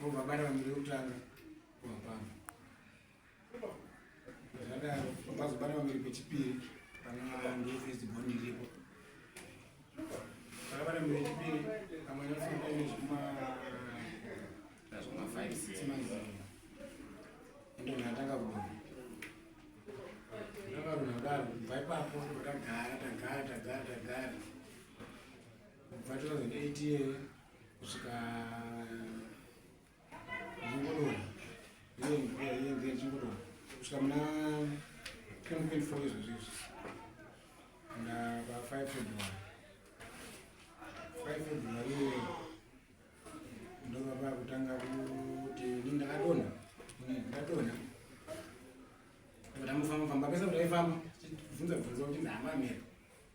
Vabara vamire kutanga kuhapana zvadaro vazobara vamire pechipiri pana ndefirst born iripo vakabara mire chipiri pamwe nafamba ine zvima zvima five six months ende munhu atanga kudona ndanga runhu kudaro kubva ipapo ndakagara tagara tagara tagara kubva 2008 iyeyo kusvika zvingodora iye mvura iye mvura zvingodora kusvika muna 2024 izvozvo izvi na pa 5 february 5 february iye ndovapa kutanga kuti ni ndakadona ni ndakadona ndamufamba famba pese kuti aifamba bvunza bvunza kuti ndahamba mhepo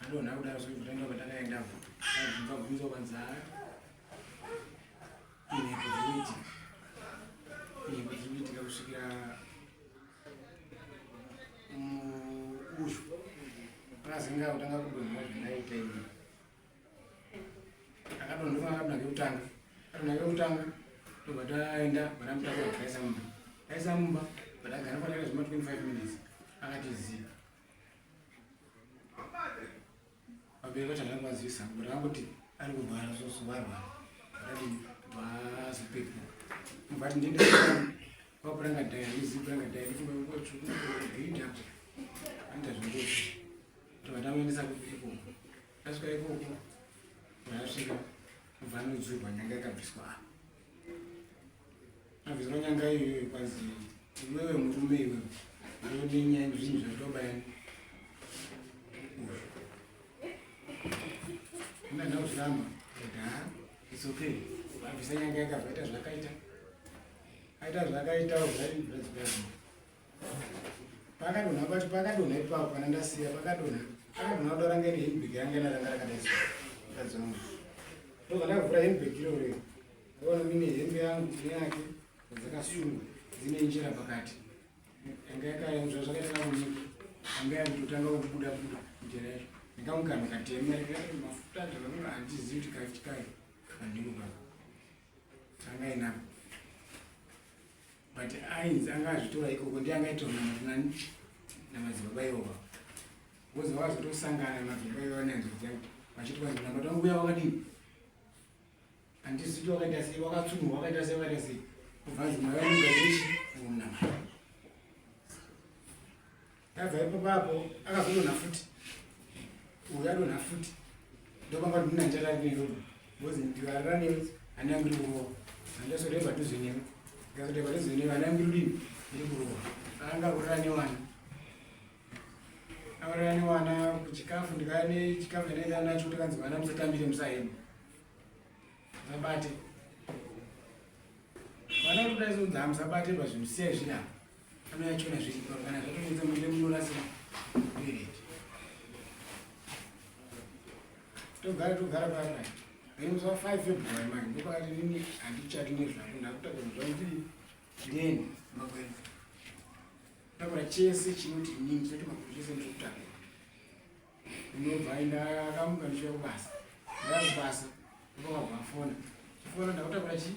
Anona kudaro zve kutanga patakaenda apo. Akabvunza bvunza kwanza. Ine kuzoiti. Ine kuzoiti kusvikira asinga kutanga kudonha zvinaita izvi akadonhova akadona kekutanga adona kekutanga ndobva taenda vanamutaka vakaisa mumba aisa mumba but agara kwataita zvema 25 minutes akatiziva vabereki vacho havana kuvazivisa but vangoti ari kurwara soso varwara vakadini vazopepuka vati ndiende kwakuranga dhaya ndizikuranga dhaya ndikumaotsvukuinda anoita zvingozi tovatamuendesa kuiko asvika ikoko vaasvika kubva anodzurwa nyanga yakabviswa apa Azvinonyanga iyoyo kwazi iwewe murume iwe unodini and zvinhu zvatoba yani. Ina na uzama. Da. It's okay. Abisa nyanga yakabva ita zvakaita. Aita zvakaita uzari zvazvazi. pakadonha pacho pakadonha ipapo kana ndasiya pakadonha pakadonha kuda ranga ine hembeki ranga ina ranga rakadaisa mukadzi wangu ndobva ndavhura hembeki iroreo ndaona mine hembe yangu neyake dzakasungwa dzine njira pakati yanga yakaenzva zvakaita kamunyika yanga yakutotanga kubuda buda njira yacho ndikamugana katema mafuta ndakanoa handizivi kuti kachikayo kandimuka kangainako but ainzi anga azvitora ikoko ndi anga aitonaani namadzibaba iwova vozi vakazotosangana namadzibaba iwova nanzodzi yangu vachiti kwanzi namba tangu uya wakadini andiziti wakaita sei wakatsunurwa wakaita sei wakaita sei kubva nzi mwayaungaechi unamai Ndabva ipapo apo akazodonha futi. Uyu adonha futi. Ndopanga kuti ndina ndarari newe. Bozi ndikarara newe hana yangu iri kurowa. Handasodai padhuze newe. Ndikasodai padhuze newe hana yangu iri kudini? Iri kurowa. Anga kurara newana. Auraya newana kuchikafu ndikaya nechikafu ndinenge anacho kuti kanzi vana musatambire musahema. Zabate. Vana kuti dai zvinhu dzamusabate pazvinhu siyai zvinapa. togara togara parai aimusa five february manje ndopakati nini handichati nezvako ndakutaura zvakuti ndeni makwenzi takura chese chinoti nini choti makuru chese ndikutanga ndinobva ndakamuka ndichiuya kubasa ndaya kubasa ndokavafona chifona ndakutakura chii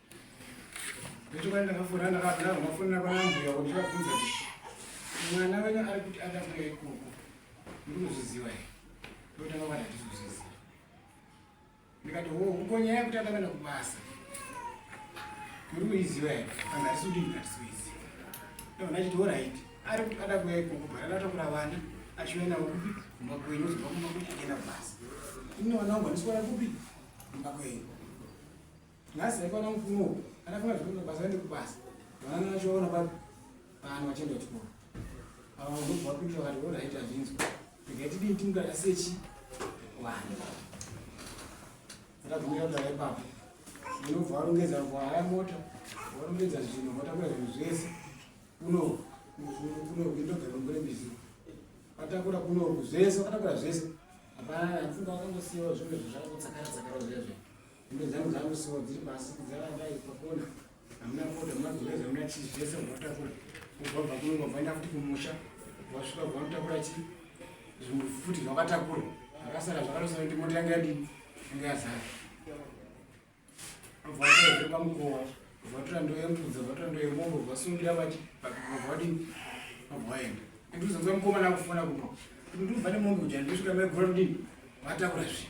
Nechokwana ndakafona ndakadaro mafonera kwana mbuya kuti ndakabvunza kuti mwana wenyu ari kuti ada kuya ikoko ndinozviziva here ndotanga kwati handizozviziva ndikati ho uko nyaya yekuti atakaenda kubasa muri kuiziva here kana handisi kuti handisi kuiziva ndakona achiti orit ari kuti ada kuya ikoko bhara ndatakura vana achiuya navo kupi kumba kwenyu zobva kumba kuti achienda kubasa ini vana wangu handisi kuona kupi kumba kwenyu nhasi haikwana mupfumo uku anafuna zvekuenda kubasa aende kubasa vanana vachiona pa vanhu vachienda kuchikoro ava vanobva vapindira vakati ora haiti hazvinzwa regai tidii timudada sechi vanhu atabvumira kudada ipapo unobva warongedza vaya mota warongedza zvinhu motakura zvinhu zvese kuno kuno kuindogerongore mizi vatakura kunoku zvese vakatakura zvese hapana apfuka vakangosiyawo zvimwe zvinhu zvakakutsakara tsakara zviya zviya Hembe dzangu dzangu so dziri pasi dzaramba ipakona. Hamuna foda, hamuna zvinhu, hamuna chii zvese munotakura. Mugwabva kuno mugwabva enda futi kumusha. Wasvika kubva mutakura chii? Zvinhu futi zvakatakura. Zvakasara zvakarosana kuti mota yanga yadini? Yanga yazara. Mubva watora pamukowa. Mubva watora ndoo yembudza, watora ndoo yemombo, wasungirira vachi, mubva wadini? Mubva waenda. Ndikuzonzwa mukomana akufona kuno. Ndikubva nemombo uja ndisvika mai gora kudini? Vatakura zvii?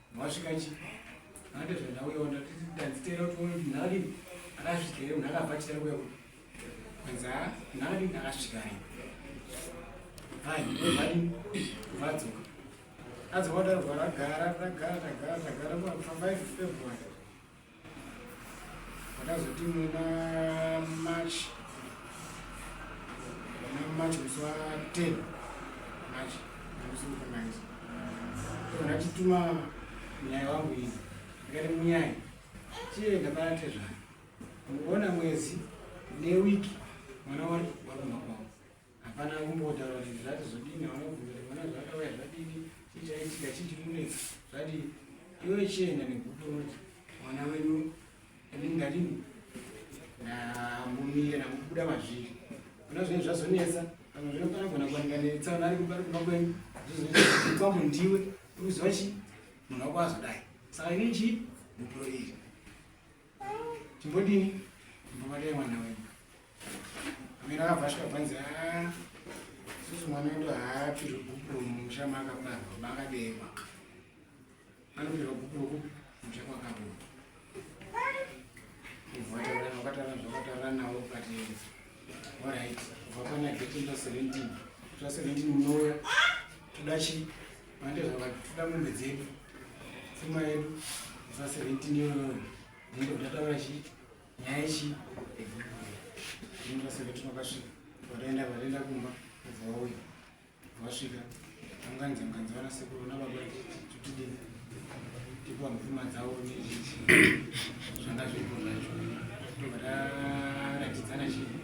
Wasvika chi? Nande zvandauyawo ndatiti ndadzitera kuti uone kuti nhali akasvika here munhu akabva achitera kuya kuti kwanza nhali akasvika here. Hai, vari vadzoka. Adzoka kudaro ragara ragara ragara ragara kwa 5 February. Ndakazoti muna March muna March musi wa 10 March musi wekunaiza ndachituma munyaya wangu iyi ndikati munyaya chienda panatezvana muona mwezi newiki mwana wari waruma kwavo hapana kumbotaura kuti zvati zvodini vanobvunza kuti vana zvakauya zvadini chii chaitika chii chiri kunetsa zvadii iwe chienda nekuti unoti mwana wenyu inini ndadini ndambomira ndambobuda mazviri kuna zvinenge zvazonetsa pamwe zvino panogona kuwanika netsaona ari kubari kumba kwenyu zvizokwambo ndiwe uri kuziva chii munhu wako azodai saka ini chii mupuro iri chimbodini mbomadei mwana wenyu amene akabva asvika bvanzi a ah, susu mwana wedu haapirwe bhuku romusha maakabarwa maakabekwa anopirwa bhuku rokupi musha kwakabuda vakataura zvakataura navo but orit kubva pana geti ndo 17 twa 17 munouya toda chii Manje zvakati toda mombe dzedu pfuma yedu za 17 yoyoyo nenge ndataura chi nyaya chi ndingaseve tinokasvika vataenda vataenda kumba kubva vauya vasvika anganzi anganzi vana sekuru nababa tutidini tipiwa mupfuma dzavo zvanga zviripo zvacho tobva taratidzana chii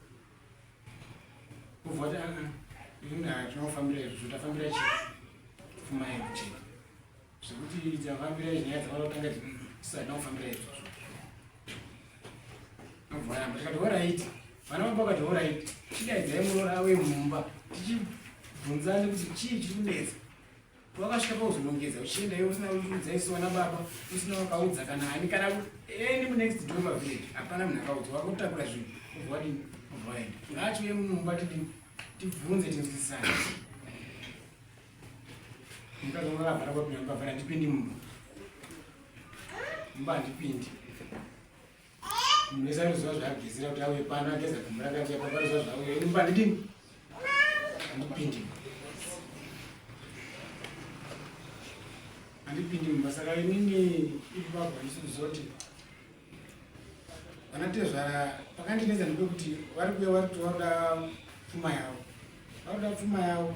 kuvhota inga tinofambira izvo zvotafambira chi pfuma yedu chete zvekuti dzafambira nyaya dzavanotanga dzisada kufambira izvozvo nobvaramba tikati horaiti vana vamba vakati horaiti chidaidzai muroora wemumba tichibvunzani kuti chii chiri kunetsa wakasvika pauzonongedza uchienda iwe usina kuudza isu vana baba usina wakaudza kana ani kana any munext door pavillage hapana munhu akaudza wakutakura zvinhu uvwadini uvwaenda ngaachiuye mumumba tidi tibvunze tinzwisisana mukadzi wangu akavhara kwapinda mukavhara ndipindi mumba mumba handipindi munhu wese anoziva zvaagezera kuti auye pano ageza gumbo rakati apa panoziva zvauye ini pandidini andipindi andipindi mumba saka inini ipapa isi kuzoti vanatezvara pakandinetsa ndipekuti vari kuya vari kuti vanoda pfuma yavo Vanoda pfuma yavo.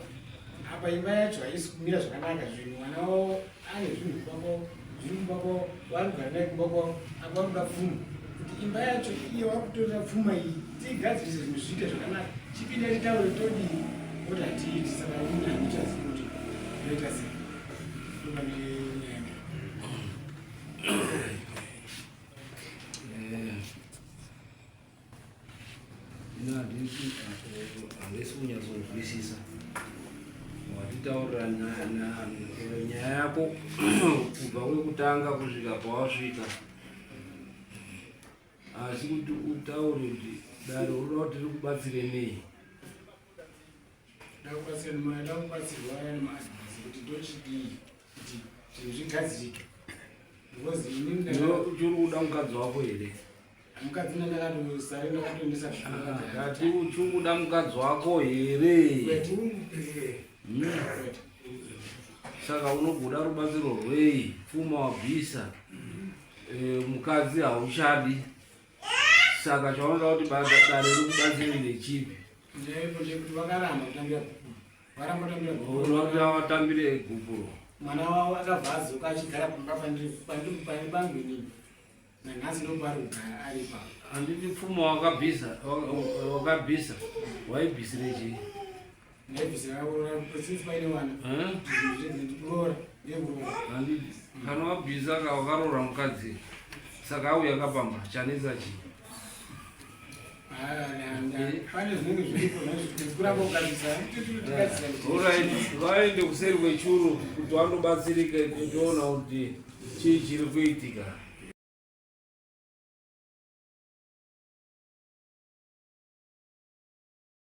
Apa imba yacho haisi kumira zvakanaka zvinhu mwana wavo ane zvinhu kumba kwavo zviri kumba kwavo vari kugara naye kumba kwavo apa vanoda pfuma kuti imba yacho iyo vakutorera pfuma iyi tiigadzirise zvinhu zviite zvakanaka chipinda titaure todii oti hatiiti saka une handichazi kuti ndoita sei ndoba nenyaya handisi kunyatsonzwisisa watitaurira nyaya yako kubva kwekutanga kusvika pawasvika asi kuti utaure kuti dare unoda kuti tiri kubatsire nei chiri kuda mukadzi wako here mukadzi ndandakatosare ndakatoendesa ndati uchikuda mukadzi wako here hmm. saka unogoda rubatsiro rwei pfuma wabvisa eh, mukadzi hauchadi saka chaunoda kuti dare rikubatsire nechipi vatambire egupuro mwana wavo akabva azoka achigara pamba pandiri pangu inini nanhasi ndokuvari kugara ari pa handiti pfuma wakabhisa wakabhisa waibhisire chii ndaibhisira kuroora since paine vana kuroora nekuroora handiti kana wabhisa ka wakaroora mukadzi saka auya kapamba chanetsa chii vaende kuseri kwechuru kuti vandobatsirika kutoona kuti chii chiri kuitika